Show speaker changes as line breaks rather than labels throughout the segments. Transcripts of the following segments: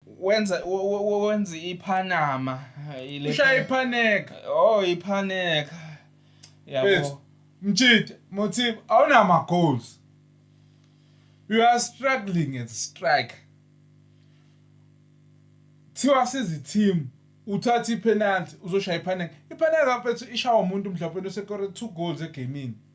Wenza wenza iPanama. Ushaya
iPaneka. Oh iPaneka.
Yabo. Mjita,
Mothiba awunama goals. You are struggling as a striker. Thiwa sizi team uthatha ipenalty uzoshaya iPaneka. iPaneka mfethu ishawa umuntu mhlawumbe osekore 2 goals egamini.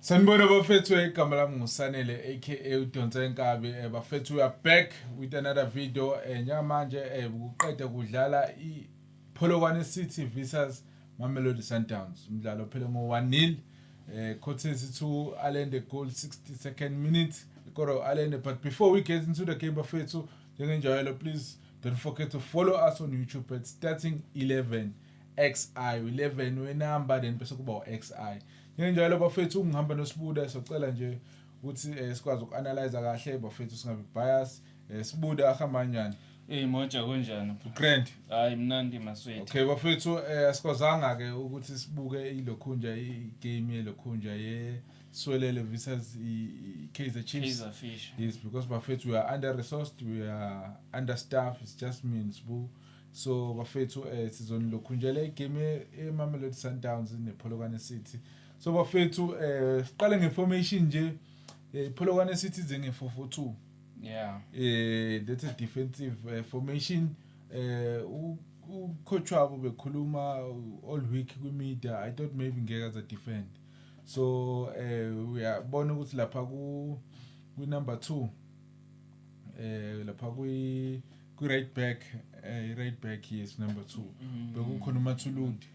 Sanibona bafethu igama lami nguSanele aka udonse inkabi eh, bafethu we are back with another video eh, njengamanje eh, kuqeda kudlala iPolokwane City versus Mamelodi Sundowns umdlalo phele ngo 1 nil eh, courtesy to Allende goal 62nd minute Koro Allende but before we get into the game bafethu njengenjalo please don't forget to follow us on YouTube at starting 11 XI u-11 wenamba then bese kuba u-XI. Njengenjalo bafethu ungihamba noSibuda socela nje ukuthi eh, sikwazi uku-analyze kahle bafethu singabi bias. Eh, Sibuda ahamba kanjani? Hey Moja
kunjani? Grand. Hayi
mnandi
maswethu. Okay bafethu eh
asikwazanga ke ukuthi sibuke ilokhunja igame yelokhunja ye Swelele versus iKaizer Chiefs. Kaizer Fish. Yes because bafethu we are under resourced, we are under staff, it's just me and Sbu. So bafethu eh sizonilokhunjela igame eMamelodi Sundowns nePholokwane City. So bafethu eh siqale ngeformation nje eh, iPholokwane City ize nge442. Yeah.
Eh that's
a defensive eh, formation eh u- ucoach wabo bekhuluma uh, all week kwimedia I thought maybe ngeke aza defend. So eh uyabona ukuthi lapha ku kwi number 2 eh lapha kwi kwi-right back eh, i-right back yes number two mm. bekukhona umathuludi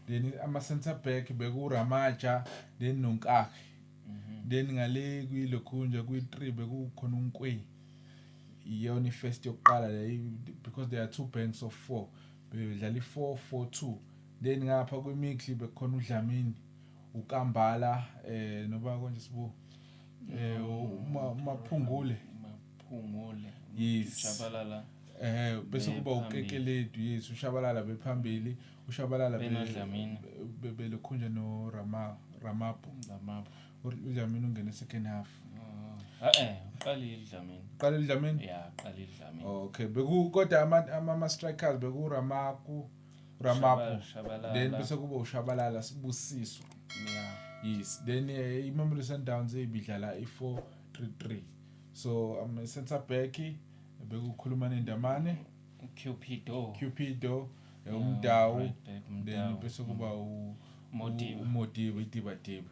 then ama-center back bekuramaja then nonkakhe mm-hmm. then ngale kwilokhunja kwi-three bekukhona unkweyi iyona i-first yokuqala le because there are two banks of four bedlala i-four four two then ngapha kwimixi bekukhona udlamini ukambala um eh, noba konje sibuka eh umaphungule umaphungule ujabalala
eh bese
kuba ukekeledi yes ushabalala bephambili ushabalala benadlamini bebelokhunja no rama ramapo ramapo udlamini ungene second half ah, ah, eh
uqalile idlamini uqalile
idlamini yeah uqalile
idlamini okay beku kodwa
ama ama strikers beku ramaku Ramapho then bese kuba ushabalala sibusiso
yes then eh,
imamelodi sundowns ibidlala i-four three three so um, i-centre back bekukhuluma nendamane cupido cupido eh, Yeah, umdawu right back, then Mdawu. bese kuba u- Modiba. u- umodiba idibadiba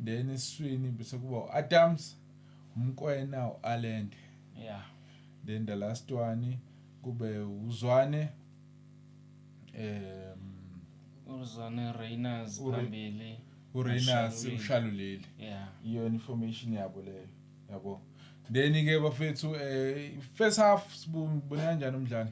then esiswini bese kuba u-adams umkwena u-alende yeah
then the
last one kube uzwane
iyona information
yabo leyo yabo then ke bafethu um first half sibona kanjani umdlalo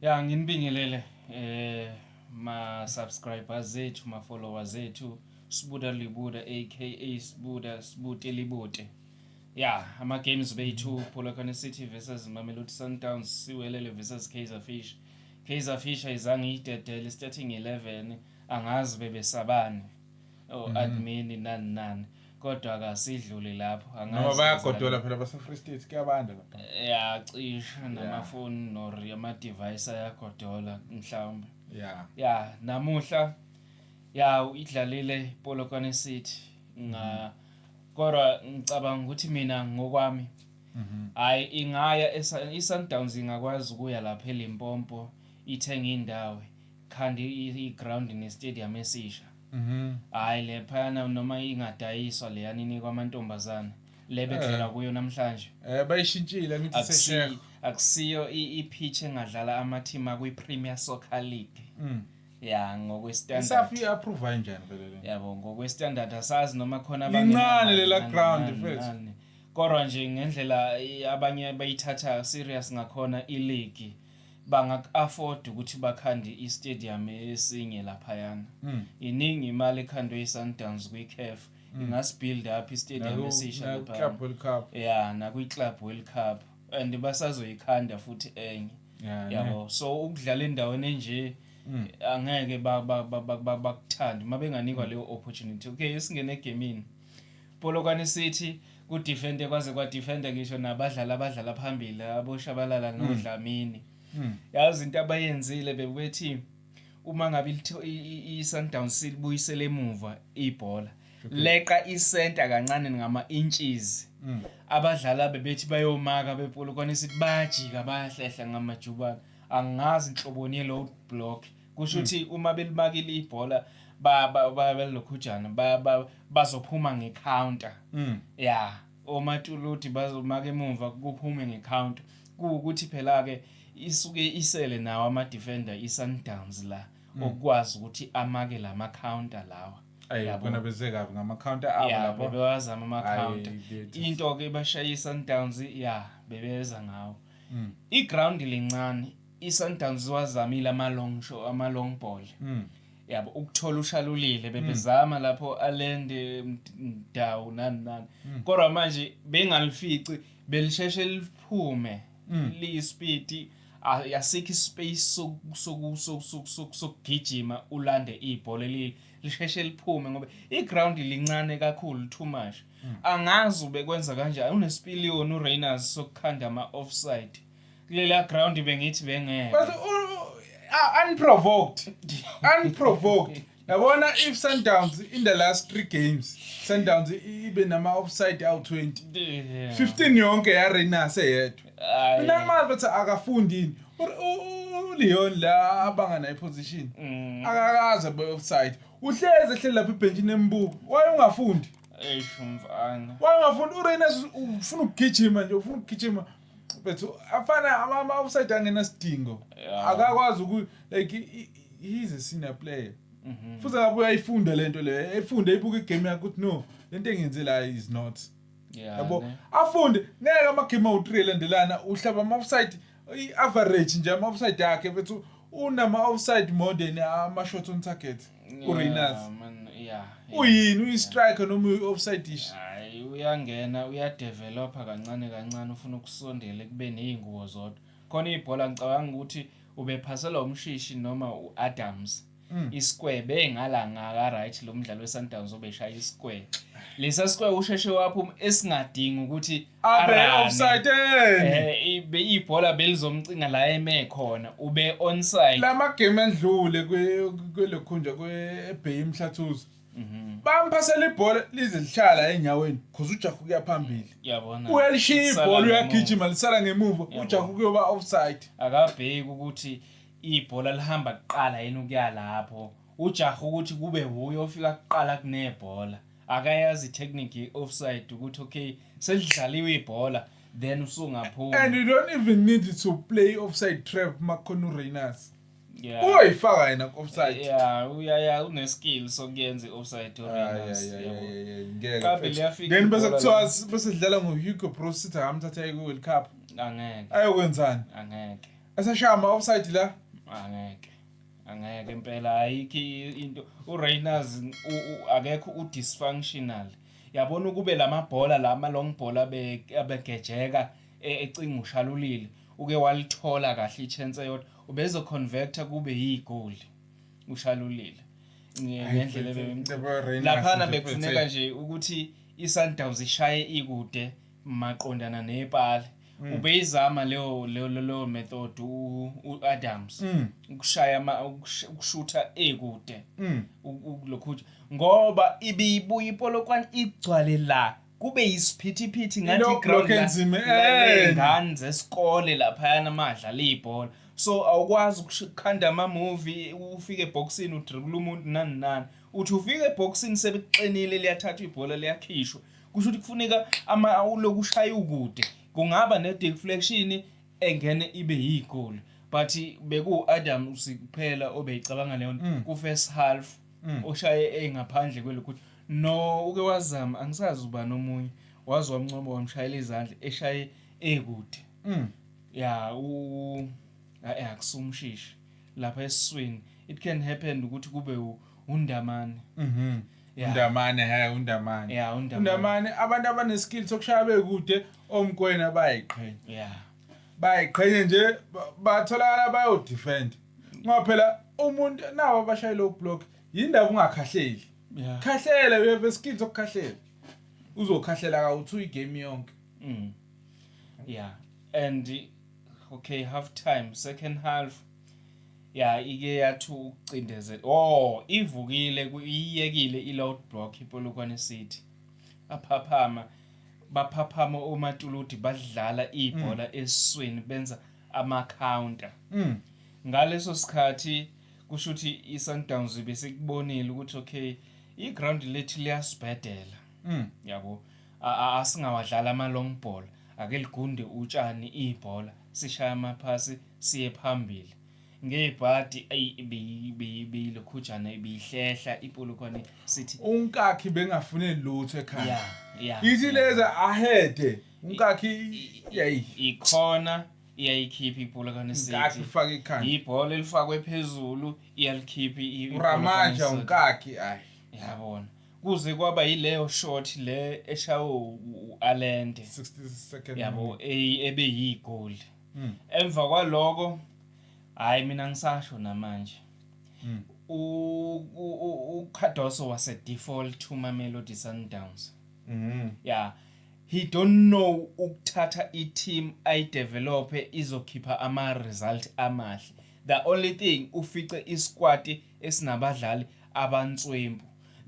ya
nginibingelele eh ma-subscribers zethu ma-followers zethu sibuda libuda aka sibuda sibute libute ya ama-games bethu polokwane city versus mamelodi sundowns siwelele versus kaizer fish kaizer fish ayizange iyidedele starting 11 angazi bebesabani o-admini oh, mhm. nani nani kodwa kasidluli lapho noma bayagodola phela
basefree state kuyabanda lapha ya cisha
namafoni nor amadivayisi ayagodola mhlawumbe ya ya namuhla ya idlalile polokwane city nga mm -hmm. Kodwa ngicabanga ukuthi mina ngokwami hayi ingaya iSundowns ingakwazi ukuya lapha eLimpopo ithenga indawo khanda iground nestadium esisha hayi lephana noma ingadayiswa leyana inikwa amantombazana le bedlala kuyo namhlanje Eh bayishintshile
ngithi Akusi- sesheya. akusiyo i-
i-pitch engadlala ama-team akwi-premier soccer league ya ngokwestandard isafi iapprove
kanjani vele le yabo ngokwestandard
asazi noma khona Lincane lela
ground, mfethu. kodwa nje
ngendlela eh, abanye bayithatha serious ngakhona iligi banga-afford ukuthi bakhande istadium esinye laphayana Mm. iningi imali ekhandwe yi-sundowns kwi-caf ingasibuild up istadium esisha laphayana naku-club world cup ya
nakwi-club
world cup and basazoyikhanda futhi enye yeah, yabo yeah. so ukudlala endaweni enje mm. angeke bakuthande uma benganikwa mm. leyo opportunity okay esingene egemini polokwane sithi kudefende kwaze kwadefenda ngisho nabadlali abadlala phambili aboshabalala mm. nodlamini mm. yazi into abayenzile bebethi uma ngabe i-sundowns silibuyisele emuva ibhola leqa isenta kancane ngama-inches mm. abadlali abebethi bayomaka bepolokwane sithi bayajika bayahlehla ngamajubane angazi nhloboni ye-load block kusho mm. ukuthi uma belimakile ibhola balokhujana bazophuma nge-counter mm. ya omatuluti bazomaka emumva kuphume nge-counter kuwukuthi phela-ke isuke isele nawo ama-defender i-sundowns la mm. okwazi ukuthi amake lama counter lawa kunabeze
kabi ngama counter abo lapho bewazama ama counter
into ke bashaya iSundowns ya bebeza ngawo mm. i ground lincane iSundowns wazamile ama long show ama long ball mm. yabo ukuthola ushalulile hmm. bebezama mm. lapho alende ndawo nani nani mm. kodwa manje bengalifici belisheshe liphume mm. liyispeed asikho ispace sokugijima ulande ibhola lisheshe liphume ngoba iground lincane kakhulu too much mm. angazi ubekwenza kanjani unesipiliyoni urainers sokukhanda ama-offside kulela ground bengithi bengeke unprovoked
unprovoked Yabona if Sundowns in the last 3 games Sundowns ibe nama offside awu 20. 15 yonke ya Rainers eyedwa. Mina ngimazi ukuthi akafundi yini. uLeon la abanga naye position. Mm. Akakaze be offside. Uhleze ehleli lapha ebhenjini embuka. Waye ungafundi. Eish umfana.
Waye ungafundi
uRainers ufuna ukugijima nje ufuna ukugijima. bethu afana ama ama offside angena sidingo Yeah. akakwazi uku like i- i- he is a senior player Mhm. futhi akabuye ayifunde lento le ayifunde ibuke igame yakhe ukuthi no lento engenze la is not Yeah, yabo ne. afunde ngeke amagame awu-3 elandelana uhlaba ama-offside i-average nje ama-offside akhe bethu unama-offside more than ama-shot on target uReynolds yeah uyini uyistriker noma uyi-offside dish hayi uyangena
uyadevelopha kancane kancane ufuna ukusondela kube nezingubo zodwa khona ibhola ngicabanga ukuthi ubephaselwa umshishi noma uAdams mm. isikwebe engala ngaka right lo mdlalo weSundowns obeshaya isikwebe lesa sikwe usheshe waphuma esingadingi ukuthi abe Arane. offside
Eh, ibe
ibhola belizomcinga la eme khona ube onside lama game endlule
kwe- kwelokhunja kweBay eMhlathuze Mhm. bamphasela ibhola lize lihlala enyaweni cause uJahu kuya phambili yabona uyalishiya
Isala ibhola ngemuva.
uyagijima lisala ngemuva Yabo. uJahu kuyoba offside akabheki ukuthi
ibhola lihamba kuqala yini ukuya lapho ujaha ukuthi kube wuye ofika kuqala kunebhola akayazi itechnique ye-offside ukuthi okay selidlaliwe ibhola then usungaphuma and you don't even
need to play offside trap makhona uReynolds yeah. uyoyifaka yena ku-offside yeah uyaya
uneskill sokuyenza i-offside ah, uReynolds yabo Kabi
liyafika then bese kuthiwa bese sidlala ngoHugo Broos sithi akamthatha eku-World Cup angeke
ayokwenzani
angeke
eseshaya ama-offside
la angeke
angeke impela ayikho into uRayners akekho udysfunctional yabona ukube lamabhola lama long ball abegejeka e, ecinga ushalulile uke walithola kahle ichance yodwa ubezo converter kube yigoli ushalulile ngendlela ebeyimcela laphana bekufuneka nje ukuthi iSundowns ishaye ikude maqondana nepali. Mm. Ubeyizama leyo leyo leyo method uAdams mm. ukushaya ama ukushutha ekude mm. lokhu ngoba ibiyibuya ipolokwane igcwale la kube yisiphithiphithi ngathi ground ingane zesikole laphayana amadla leyibhola so awukwazi ukukhanda ama movie ufike eboxini udribula umuntu nani nani uthi ufike eboxini sebekuqinile liyathathwa ibhola liyakhishwa kusho ukuthi kufuneka ama uloku ushaya ukude kungaba ne deflection engene ibe yigoli but beku Adam usikuphela obeyicabanga leyo nto ku first half oshaye engaphandle kwelokuthi no uke wazama angisazi uba nomunye waze wamncoma wamshayela izandla eshaye ekude ya u akusumshishi lapha esiswini it can happen ukuthi kube undamane mhm Yeah. undamane he
undamane Yeah, uNdamane.
undamane abantu
abaneskill sokushaya bekude omkwena bayiqhenya yeah
bayiqhenye
nje ba- batholakala bayodefend ngoba phela umuntu nawo abashayela ublock yindaba ungakhahleli yeah khahlela
you have a skill
sokukhahlela uzokhahlela kawuthu igame yonke mm
yeah and Okay half time second half ya ike yathi ukucindezela oh ivukile iyiyekile i-load block ipolokwane city aphaphama baphaphama omatuluti badlala ibhola mm. eswini benza ama-counter mm. ngaleso sikhathi kusho ukuthi i-sundowns besikubonile ukuthi okay i-ground lethu liyasibhedela mm. yabo Asingawadlali ama-long ball, ake ligunde utshani ibhola, sishaye amaphasi siye phambili. Ngebhadi ayi beyilokhujana ibihlehla ipolokwane sithi unkakhi bengafune
lutho ekhaya. Yeah, yeah. Ithi leza ahede unkakhi yayi ikhona
iyayikhipha ipolokwane sithi. Unkakhi ufaka ikhanda.
Ibhola elifakwe
phezulu iyalikhipha ipolokwane. Uramaja
unkakhi ayi. Yabona.
kuze kwaba yileyo shot le eshawe u-Alende 62nd
yabo
ebe yigoli hmm. emva kwaloko hayi mina ngisasho namanje hmm. uCardoso wase default to Mamelodi Sundowns hmm. ya he don't know ukuthatha i-team ayidevelope izokhipha ama-result amahle the only thing ufice isquad esinabadlali abanswempu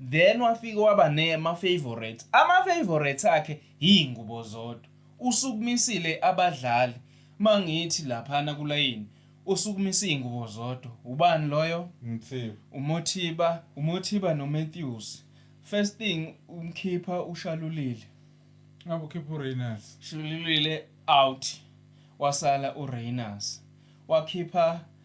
then wafike waba nema favorites ama favorites akhe yingubo zodwa usukumisile abadlali mangithi laphana kulayini usukumisa izingubo zodwa ubani loyo Mthiba umothiba umothiba no Matthews first thing umkhipha ushalulile ngabe
ukhipha uReynolds shalulile
out wasala uReynolds wakhipha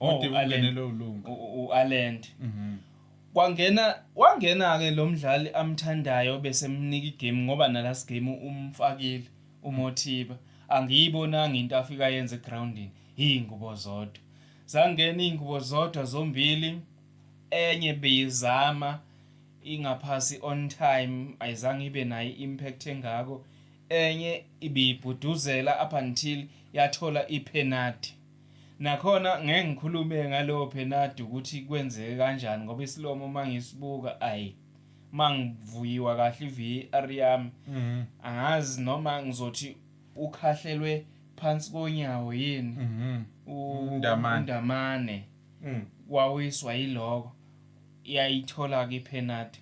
Oh, Ode
u-Allen. ungenelwe ulunga. u- u-alend
Mhm. kwangena wangena-ke lo mdlali amthandayo besemnika igame ngoba nalast game umfakile umothiba angiyibonanga into afika yenze egrawundini iy'ngubo zodwa zangena iy'ngubo zodwa zombili enye beyizama ingaphasi on time ayizange ibe nayo i-impact engako enye ibiyibhuduzela up until yathola iphenadi Nakhona ngeke ngikhulume ngalowo penadi ukuthi kwenzeke kanjani ngoba isilomo uma ngisibuka ayi uma ngivuyiwa kahle iVAR yami mhm. angazi noma ngizothi ukhahlelwe phansi konyawo yini mhm. uNdamane mm. wawiswa yiloko yayithola-ke iphenadi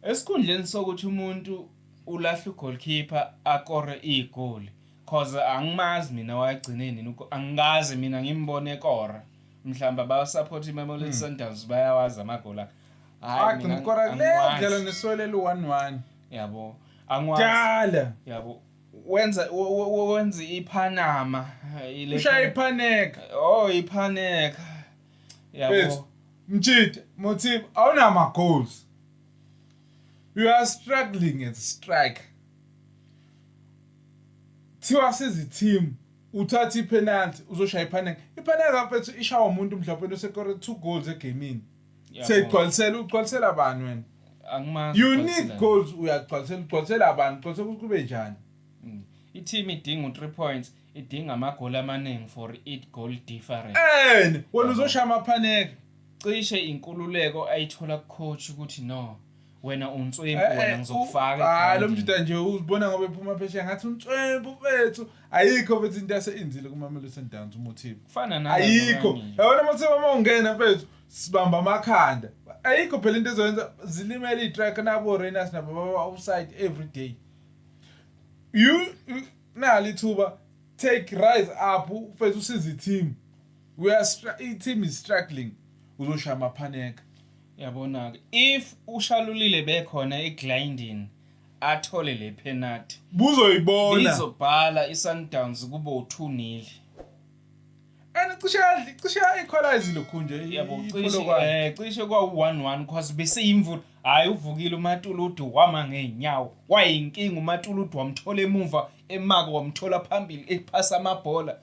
esikhundleni sokuthi umuntu ulahle ugoalkeeper akore igoli Coz angimazi mina wagcine nini ugo angikaze mina ngimbone ekora mhlawumbe aba support iMamelodi hmm. Sundowns bayawazi amagoli akhe hayi mina
ngikora le dlala neswele lu 1-1 yabo
angwazi dala yabo wenza wenza iPanama ile ushaya iPaneka
oh
iPaneka yabo Mjita
Mothiba awunama goals you are struggling at strike Kuthiwa sizi team uthathe i penalty uzoshaya i panenka. I panenka ka mfethu ishawa umuntu mhlawumpeni osekore two goals e gemini. Seyigcwalisela ugcwalisela bani wena? Angimazi. You
need ugcwaliselani. goals
uyagcwalisela ugcwalisela bani ugcwalisela ukuthi kube njani? Mm. I-team
idinga u-3 points, idinga amagoli amaningi for it goal difference. And wena uzoshaya
ama panenka. Cishe
inkululeko ayithola kucoach ukuthi no, wena unswempu Eh, wena eh, ngizokufaka u- ah, lo egroundini. mjita nje
uzibona ngoba ephuma phesheya ngathi unswempu mfethu ayikho mfethu into aseyenzile kumamelodi sundowns umothiba kufana nalaba ayikho
abanye. yabona
mothiba uma ungena mfethu sibamba amakhanda ayikho phela into ezoyenza zilimele iy'trak nabo rainers nabo baba offside every day you you- nali ithuba take rise up mfethu usize i-team we are stra- i-team is struggling uzoshaya
amaphaneka
Yabonake
if uShalulile bekhona
eGlyndene
athole le phenathi Buzoyibona.
bizobhala
iSundowns kube u-two nil. And cishe
yadli- cishe yayikhwalayizi lokhu nje i- Yabo cishe iPolokwane.
eh
cishe kwawu-one
one cause beseyimvula. Hhayi uvukile uMatuludu wama ngey'nyawo. Wayinkinga uMatuludu wamthola emumva emaka wamthola phambili ephasa amabhola.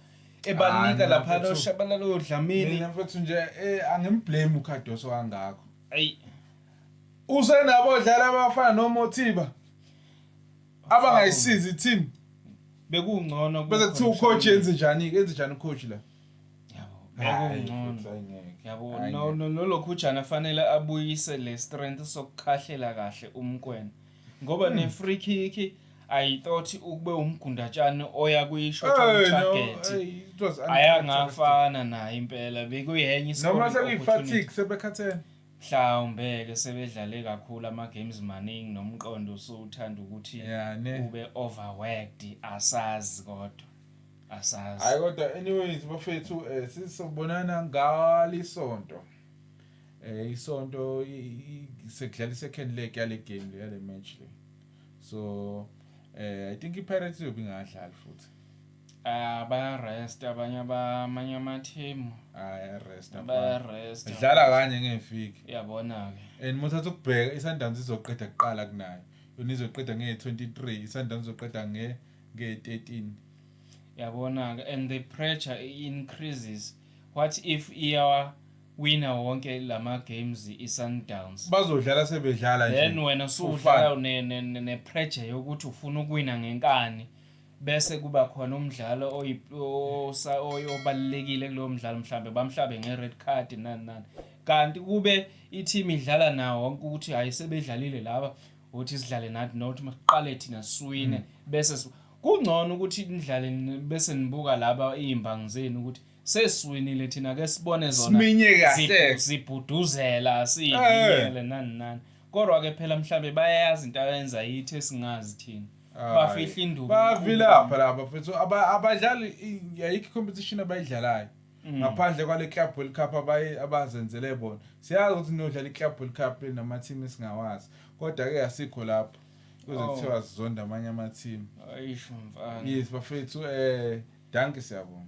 ebanika laphana oshabalala odlamini mina mfethu nje
eh, angimblame uKhadoso kangakho ayi usenabo odlala abafana noMothiba abangayisizi i-team bekungcono
bese kuthiwa ucoach
yenze njani enze njani ucoach la bekungcono
yabo no no lolokhu ujana fanele abuyise le strength sokukhahlela kahle umkwena ngoba ne free kick I thought ukube umgundatshane oya kuyishot hey, target no, hey, ayangafana naye impela bekuyenye noma sekuyifatigue
sebekhathene mhlawumbe
ke sebedlale kakhulu ama games maningi nomqondo usuthanda ukuthi yeah, ube overworked asazi kodwa asazi hayi kodwa anyways
bafethu eh, sizobonana ngalisonto eh isonto sekudlala second leg yale game le yale match le so eh i think iPirates iyobe ingadlali futhi ah
bayarest abanye abamanye amathemu ayarest ah,
bayarest
idlala kanye
ngefiki uyabona ke
and muthatha ukubheka
isundowns izoqeda kuqala kunayo yona izoqeda nge 23 isundowns izoqeda nge nge 13
yabona ke and the pressure increases what if iyawa Wina wonke lama games i Sundowns. Bazodlala sebedlala
nje. Then wena usudlala
ne ne ne pressure yokuthi ufuna ukuwina ngenkani bese kuba khona umdlalo oyi obalekile kulowo mdlalo mhlambe bamhlabe nge red card nani nani. Kanti kube i team idlala nawo wonke ukuthi hayi sebedlalile laba uthi sidlale nathi not maqale thina siwine mm. bese kungcono ukuthi nidlale bese nibuka laba izimbangi zenu ukuthi sesiwinile thina ke sibone zona Siminye kahle. zibu-
zibhuduzela
Eh. siyinyele nani nani kodwa ke phela mhlambe bayayazi into ayenza yithi esingazi thina bafihla induku bavilapha laba
mfethu Aba- abadlali i- ayikho competition abayidlalayo Mm. ngaphandle kwale club world cup abayi- abazenzele bona siyazi ukuthi niyodlala i-club world cup namateam esingawazi kodwa-ke asikho lapho kuze Oh. kuthiwa sizonda amanye amathimu
ayisho
mfana yes bafethu um danke siyabonga